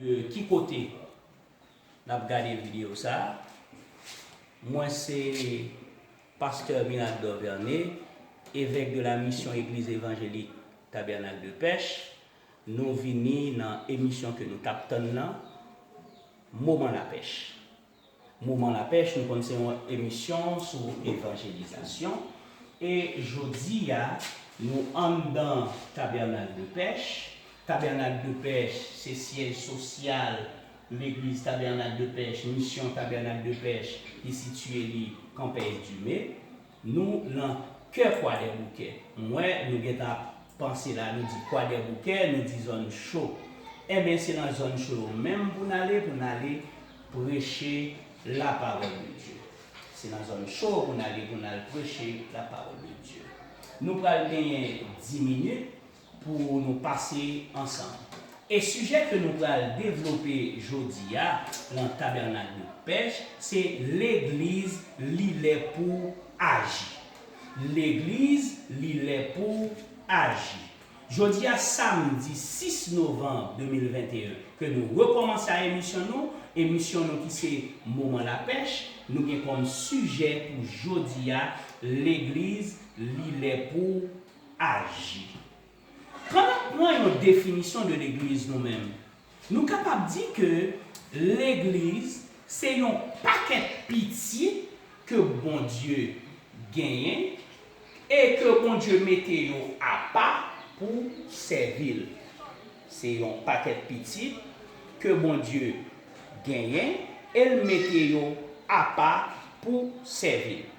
De ki kote nap gade video sa mwen se Pasteur Miracle Dorverné evèk de la mission Eglise Evangelique Tabernacle de Pech nou vini nan emisyon ke nou tap tann nan moman la pech. Moman lapèch nou konn se yon emisyon sou evanjelizasyon e jodi a nou anndan Tabènak de pèch. Tabènak de pèch se syèj sosyal legliz Tabènak de pèch, misyon Tabènak de pèch ki sitiye li Campais Dumé. Nou nan kè kwadèboukè. M wè nou gentan ap panse la nou di kwadèboukè nou di zòn cho. Enben se nan zòn cho yo menm pou n ale pou n ale preche lapawòl de Dye. Se nan zòn cho pou n ale pou n al preche lapawòl de Dye. Nou pral genyen di minit. pou nou pase ansanm. E sijè ke nou pral devlope jodi a lan Tabènak de Pèch se Legliz li lè pou aji. Legliz li lè pou aji. Jodi a samdi 6 novanm 2021 ke nou rekòmanse a emisyon nou, emisyon nou ki se Moman Lapèch, nou gen kòm sijè pou jodi a Legliz li lè pou. aji. Kan nap pran yon definisyon de legliz nou menm, nou kapab di ke legliz se yon pakèt pitit ke Bondye genyen e ke Bondye mete yo apa pou sèvi l. Se yon pakèt pitit ke Bondye genyen e l mete yo apa pou sèvi l.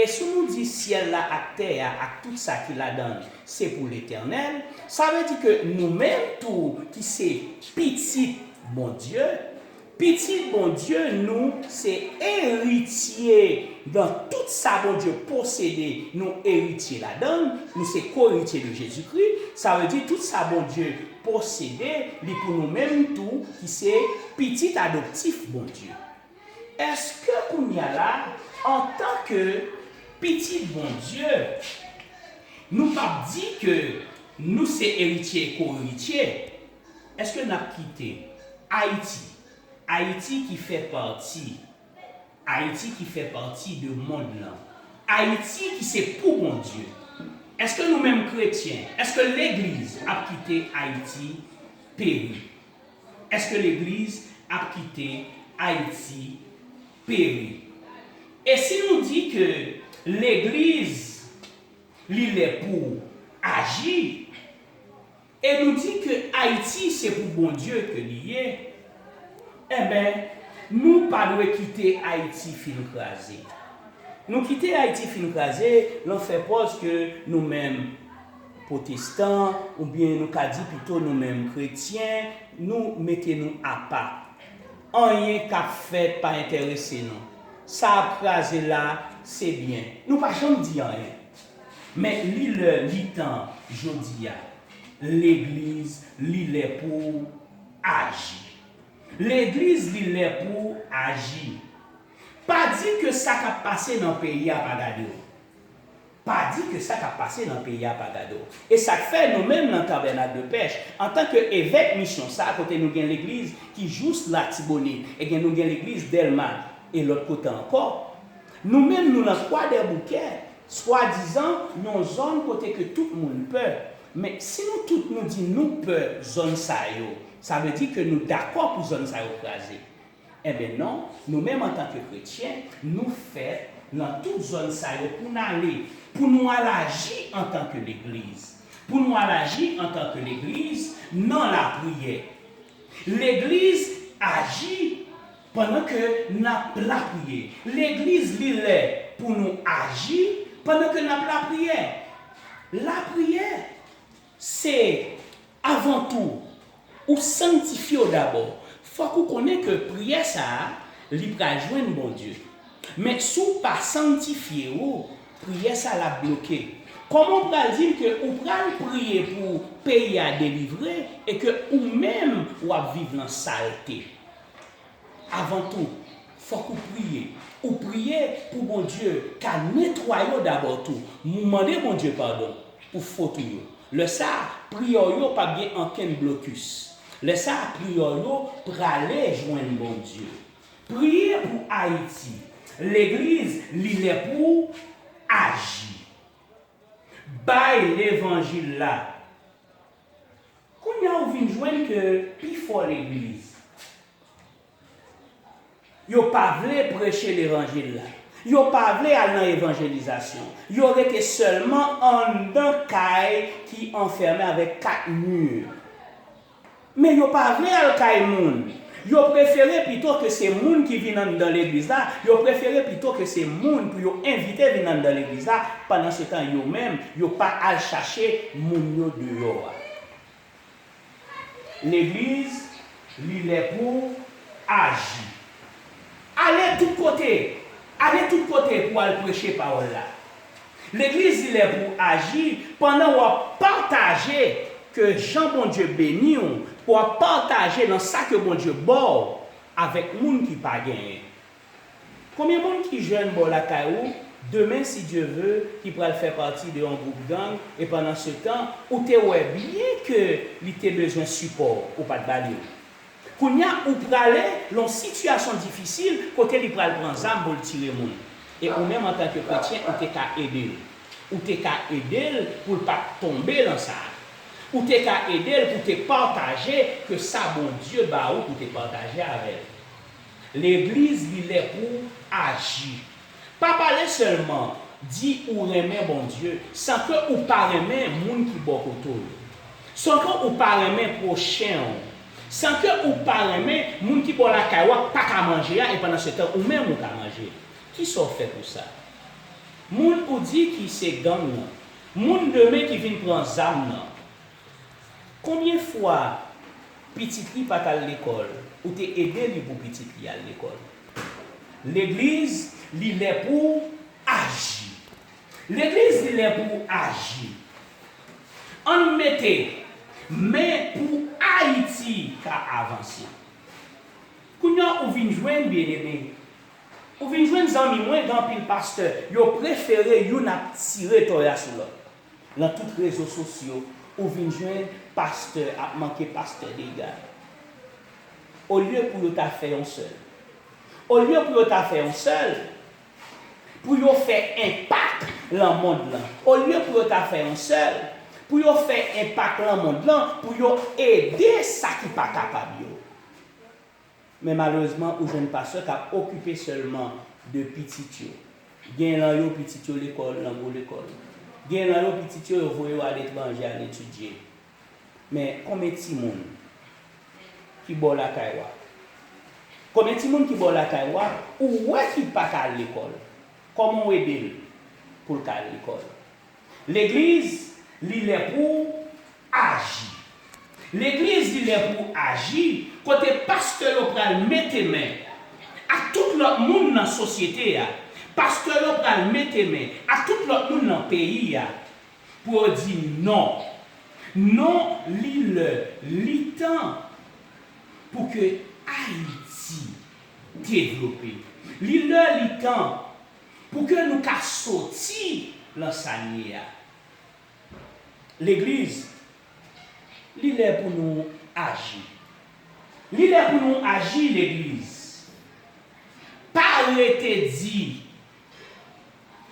E sou nou di syèl la ak tè a ak tout sa ki ladann se pou letènèl, sa vle di ke nou menm tou ki se pitit Bondye, pitit Bondye nou se eritye nan tout sa Bondye posede nou eritye ladan l, nou se koeritye de Jezikri, sa vle di tout sa Bondye posede li pou nou menm tou ki se pitit adoptif Bondye. Eske kounya la antan ke pitit Bondye nou pap di ke nou se eritye e ko-eritye? Eske nap kite Ayiti, Ayiti ki fè pati, Ayiti ki fè pati de mond lan, Ayiti ki se pou Bondye, eske nou menm kretyen, eske legliz ap kite Ayiti peri? Eske legliz ap kite Ayiti peri? E si nou di ke legliz li lè pou aji, e nou di ke Ayiti se pou Bondye ke li ye, enben nou pa dwe kite Ayiti fin kraze. Nou kite Ayiti fin kraze, lan fè pòz ke nou menm. Pwotestan, oubyen nou ka di pito nou menm kretyen, nou mete nou apa. Anyen k ap fèt pa enterese nou. Sa ap kraze la, se byen. Nou pa janm di anyen. Men li lè li tan jodi a. Legliz li lè pou aji. Legliz li lè pou aji. Pa di ke sa k ap pase nan peyi a pa gade w. Pa di ke sa kap pase nan peyi a pa gade w. E sak fè nou menm nan Tabènak de Pèch, antan ke evèk misyon sa kote nou gen legliz ki jous Latibonit, e gen nou gen legliz Dèlma e lòt kote ankò, nou menm nou nan Kwadèboukè, swadizan yon zòn kote ke tout moun pè. Men, si nou tout nou di nou pè zòn sa yo, sa vle di ke nou dakò pou zòn sa yo kraze. Enben non, nou menm antanke kretyen, nou fèt nan tout zòn sa yo pou n ale, pou nou al aji antanke Legliz, pou nou al aji antanke Legliz nan lapriyè. Legliz aji pandan ke n ap lapriyè. Legliz li lè pou nou aji pandan ke n ap lapriyè. Lapriyè! Se, avan tou, ou sanktifye w dabò. Fòk ou konnen ke priyè sa a, li pral jwenn Bondye. Men, si w pa sanktifye ou, priyè sa l ap bloke. Kòman ou pral di m ke ou pral priye pou peyi a delivre e ke ou menm w ap viv lan salte? Avan tou, fòk ou priye. Ou priye pou Bondye ka netwaye w dabò tou. Ou mande Bondye padon pou fot ou yo. Lè sa a, priyè w yo p ap gen ankenn blokis. Lè sa a, priyè w yo prale jwenn Bondye. Priye pou Ayiti. Legliz, li lè pou w aji. Bay levanjil la. Kounya ou vin jwenn ke pi fò legliz yo pa vle preche levanjil la, yo pa vle al nan evanjelizasyon, yo rete sèlman anndan kay ki anfèmen avèk 4 mur. Men yo pa vle al kay moun. Yo prefere pito ke se moun ki vin anndan legliz la, yo prefere pito ke se moun pou yo envite vin anndan legliz la, pandansetan yo menm, yo pa al chache moun yo deyò a. Legliz, li lè pou'w aji. Ale tout kote! Ale tout kote pou al preche pawòl la. Legliz li lè pou aji pandan wap pataje ke jan Bondye beniw pou wap pataje nan sa ke Bondye baw avèk moun ki pa genyen Konbyen moun ki jèn bò lakay ou demen si Dye ve ki pral fè pati de yon gwoup gang e pandan setan ou te wè byen ke li te bezwen sipòw ou pat balil Kounya ou prale lon sitiyasyon difisil kote li pral pran zam pou l tire moun. E ou menm antanke kretyen ou te ka ede l. Ou te ka ede l pou l pat tonbe lan sa. Ou te ka ede l pou te pataje ke sa Bondye ba ou pou te pataje avè l. Legliz li lè pou aji. Pa pale selman, di ou renmen Bondye san ke ou pa renmen moun ki bò kote w yo. San ke ou pa renmen pwochen w. San ke ou pa renmen moun ki bò lakay w ak pa ka manje a e pandan se tan ou menm ou ka manje. Kisa w fè pou sa? Moun ou di ki se gang nan. Moun demen ki vin pran zam nan. Konbyen fwa pitit li pat al lekòl ou te ede li pou pitit li al lekòl? Legliz li lè pouw aji Legliz li lè pouw aji Ann mete men pou Ayiti ka avanse Kounya ou vin jwenn Bien-Aimé Ou vin jwenn zanmi mwen gen anpil pastè yo prefere youn ap tire toya sou lòt. Nan tout rezo sosyo ou vin jwenn pastè ap manke pastè dega. Olye pou yo ta fè yon sèl. Olye pou yo ta fè yon sèl, pou yo fè enpak lan mond lan. Olye pou yo ta fè yon sèl, pou yo fè enpak lan mond lan, pou yo ede sa ki pa kapab yo. Men malerezman ou jwenn pastè kap okipe sèlman de pitit yo. Gen lan yo pitit yo lekòl lan gwo lekòl. Gen lan yo pitit yo yo voye yo aletranje al etidye. Men konbyen timoun ki bò lakay wa? Konbyen timoun ki bò lakay wa ou wè ki paka al lekòl? Kòman ou ede l poul ka al lekòl? Legliz, li lè pou w aji. Legliz, li lè pou w aji, kote pastè yo pral mete men ak tout lòt moun nan sosyete a, pastè yo pral mete men ak tout lòt moun nan peyi a, pou yo di non. Non, li lè, li tan pou ke Ayiti devlope. Li lè, li tan Pou ke nou ka soti lan sa n ye a. Legliz, li lè pou nou aji. Li lè pou nou aji, Legliz. Pa rete di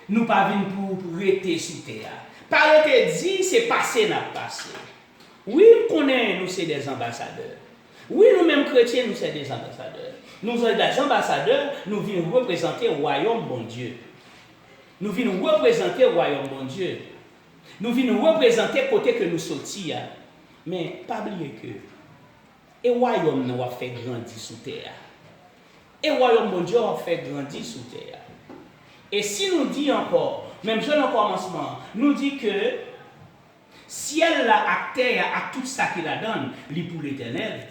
nou pa vin pou rete sou tè a. Pa rete di se pase n ap pase. Wi, m konnen nou se des anbasadè. Wi nou menm kretyen nou se de anbasadè. Nou se de anbasadè, nou vin reprezante wayòm Bondye. Nou vin reprezante wayòm Bondye. Nou vin reprezante kote ke nou soti a. Men, pa bliye ke e wayòm nan w'ap fè grandi sou tè a. E wayòm Bondye w'ap fè grandi sou tè a. E si nou di ankò, menm jan nan kòmansman an, nou di ke. Syèl la ak tè a ak tout sa ki ladan l, li pou letènèl.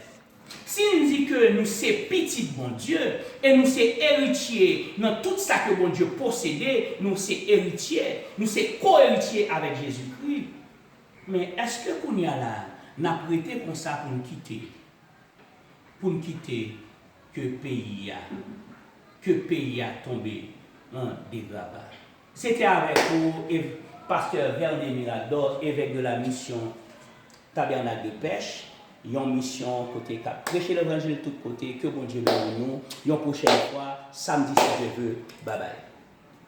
Si n di ke nou se pitit Bondye e nou se eritye nan tout sa ke Bondye posede, nou se eritye, nou se ko-eritye avèk Jezikri. Men, èske kounye a la, n ap rete konsa pou n kite, pou n kite ke peyi a, ke peyi a tonbe an degraba? Se te avèk ou ev. Pastè Vernet Mirador, Evèk de la Misyon Tabènak de Pèch, yon misyon kote k ap preche levanjil tout kote. Ke Bondye beni nou yon pwochèn fwa samdi si Dye ve. Babay.